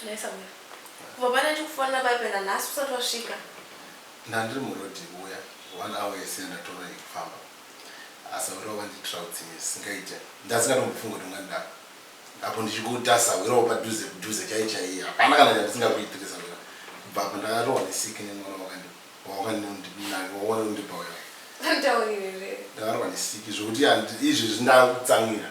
Nhai Samuel. Kubva pane ndikufonera paye pena nhasi usati wasvika. Ndandiri muroad kuuya one hour yese yandatova yekufamba. Asi awira wanditrouts me zvisingaite. Ndasingatombofungwe kuti ungandidaro. Apo ndichikutarisa awira wapadhuze kudhuze chaiye chaiye. Hapana kana chandisingakuitire Sawira. Kubva apa ndakarohwa nesiki nemwana wakandi wawakandimunani wawana undipa uya. Nditaurire here? Ndakarohwa nesiki zvekuti izvezvi ndakutsamwira.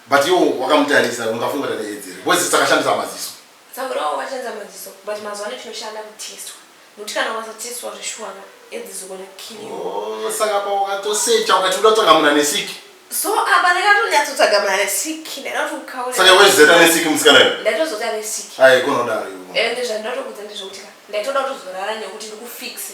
But iwo wakamutarisa ungafunga kuti ane edzi here? Boys dzakashandisa maziso. Dzamurawo vachanza maziso but mazuva ano tinoshanda kutestwa. Nokuti kana ukasatestwa zveshuwa na edzi dzogona kukill you. Oh, saka apa wakatosecha ukati uda kutsvaga munhu ane sick. So apa ndakatonyatsotsvaga munhu ane sick ndaida kuti ukaure. Saka iwe zeta ane sick musikana iwe. Ndaitozoti ane sick. Haikona kudaro iwe. Ende zvandatokudza ndezvokuti ka ndaitoda kutozorara nekuti ndikufixe.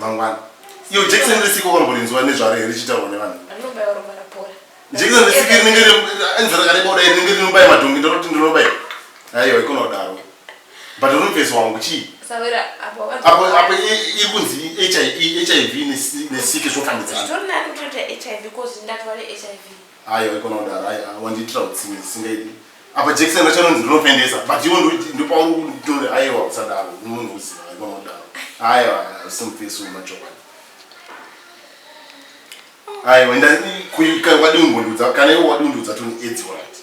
mangwana iyo jekiseni risiko kamborinzwa nezvaro here richitaurwa nevanhu jekiseni risiko rinenge enzira rakareba kudai rinenge rinobaya madhongi ndoroti ndinobaya aiwa ikona kudaro but rinopesa wangu chii apo apo iri kunzi hiv e, nesiki zvofambidzana Ayo haikona kudaro ayi wandiitira utsinye zvisingaiti apa jekiseni racho rinonzi rinopendesa but iwo ndopauri kutore aiwa usadaro munhu uziva haikona kudaro aiwa simufesi umachokwadi aiwa enda wadii kungondiudza kana iwo wadii undiudza toni edzi wati